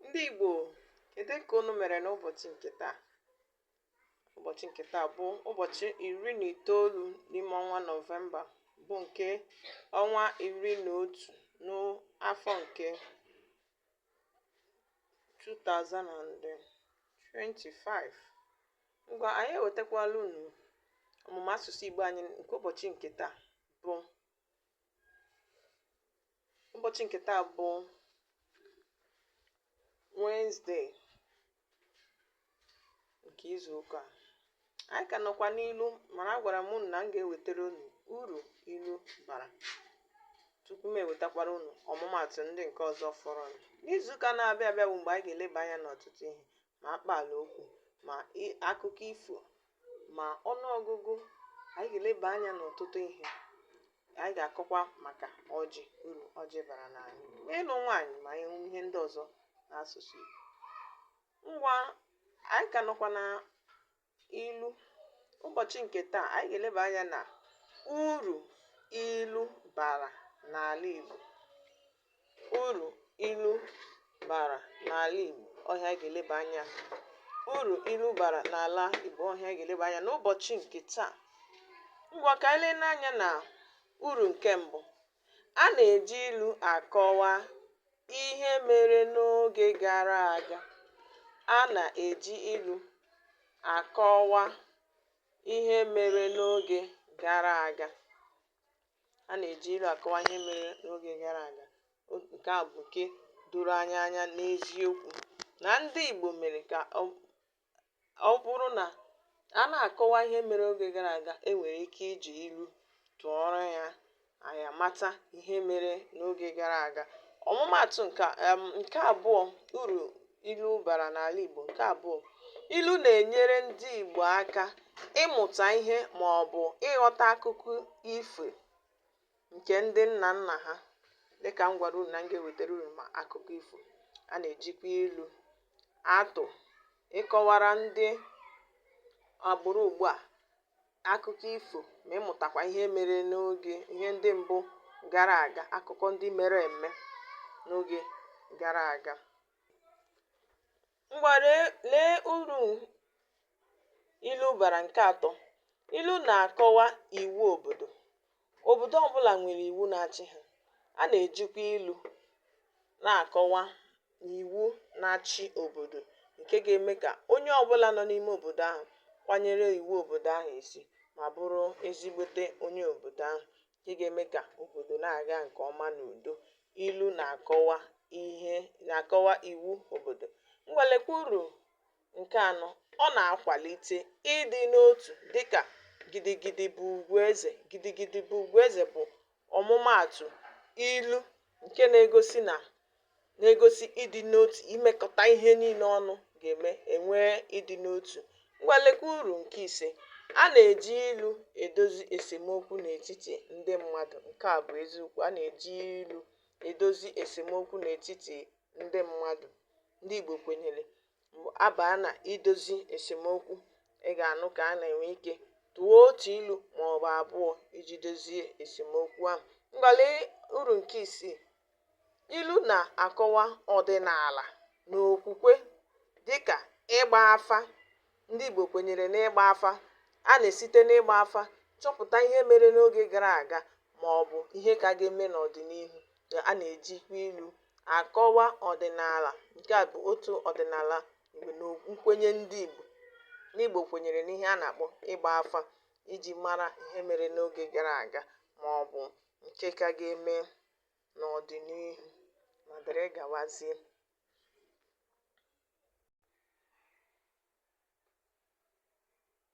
ndị Igbo kedu ka unu mere n'ụbọchị nke taa ụbọchị nke taa bụ ụbọchị iri na itoolu n'ime ọnwa nọvemba bụ nke ọnwa iri na otu n'afọ nke 2025 ngwa anyị ewetakwala unu ọmụmụ asụsụ Igbo anyị nke ụbọchị nke taa bụ ụbọchị nke taa bụ Wednesday nke izu ụka a. anyị ka nọkwa n'ilu mana agwara m unu na m ga-ewetara unu uru ilu bara tupu m ewetakwara unu ọmụmatụ ndị nke ọzọ fọrọ n'izu ụka na-abịa abịa bụ mgbe anyị ga-eleba anya n'ọtụtụ ihe ma akpaala okwu ma i- akụkọ ifo ma ọnụọgụgụ anyị ga-eleba anya n'ọtụtụ ihe anyị ga-akọkwa maka ọjị uru ọjị bara n'ala Igbo ma ịlụ nwaanyị ma ihe ihe ndị ọzọ n'asụsụ Igbo ngwa anyị ka nọkwa na Ilu ụbọchị nke taa anyị ga-eleba anya na uru ilu bara n'ala Igbo uru ilu bara n'ala Igbo ọ ihe anyị ga-eleba anya uru ilu bara n'ala Igbo ọ ihe anyị ga-eleba anya n'ụbọchị nke taa ngwa ka anyị leenụ anya na uru nke mbụ A na-eji ilu akọwa ihe mere n'oge gara aga. A na-eji ilu akọwa ihe mere n'oge gara aga. A na-eji ilu akọwa ihe mere n'oge gara aga. O nke a bụ nke doro anyị anya n'eziokwu na ndị Igbo mere ka ọ ọ bụrụ na a na-akọwa ihe mere oge gara aga e nwere ike iji ilu tụọrọ ya anyị amata ihe mere n'oge gara aga ọmụmaatụ nke a em, nke abụọ uru ilu bara n'ala Igbo nke abụọ ilu na-enyere ndị Igbo aka ịmụta ihe ma ọ bụ ịghọta akụkọ ifo nke ndị nna nna ha dịka m gwara unu na m ga-ewetara unu ma akụkọ ifo a na-ejikwa ilu atụ ịkọwara ndị agbụrụ ugbu a akụkọ ifo ma ịmụtakwa ihe mere n'oge ihe ndị mbụ gara aga akụkọ ndị mere eme n'oge gara aga Ngwa lee lee uru ilu bara nke atọ. Ilu na-akọwa iwu obodo. Obodo ọbụla nwere iwu na-achị ha. A na-ejikwa ilu na-akọwa iwu na-achị obodo nke ga-eme ka onye ọbụla nọ n'ime obodo ahụ kwanyere iwu obodo ahụ isi ma bụrụ ezigbote onye obodo ahụ. ǹke ga-eme kà òbòdò na-àga ǹkè ọma n'ùdo ilu nà-àkọwa ìwu òbòdò ngwa lekwa urù ǹke anọ ọ nà-akwàlite ịdị n'otù dịkà gidi gidi bụ̀ ùgwù ezè gidi gidi bụ̀ ùgwù ezè bụ̀ ọ̀mụmaàtụ̀ ilu ǹke na-egosi nà na-egosi ịdị n'otu imekọta ihe niile ọnụ ga-eme e nwee ịdị n'otu ngwa lekwa uru nke ise a na-eji ilu edozi esemokwu n'etiti ndị mmadụ nke a bụ eziokwu a na-eji ilu edozi esemokwu n'etiti ndị mmadụ ndị Igbo kwenyere a baa na idozi esemokwu ị ga-anụ ka a na-enwe ike tụọ otu ilu ma ọ bụ abụọ iji dozie esemokwu ahụ ngwa lee uru nke isii Ilu na-akọwa ọdịnaala na okwukwe dịka ịgba afa. Ndị Igbo kwenyere n'ịgba afa. A na-esite n'ịgba afa chọpụta ihe mere n'oge gara aga maọbụ ihe ka ga-eme n'ọdịnihu. A na-ejikwa ilu akọwa ọdịnaala. Nke a bụ otu ọdịnaala na nkwenye ndị Igbo. Ndị Igbo kwenyere n'ihe a na-akpọ ịgba afa iji mara ihe mere n'oge gara aga maọbụ nke ka ga-eme n'ọdịnihu ma dịrị gawazie.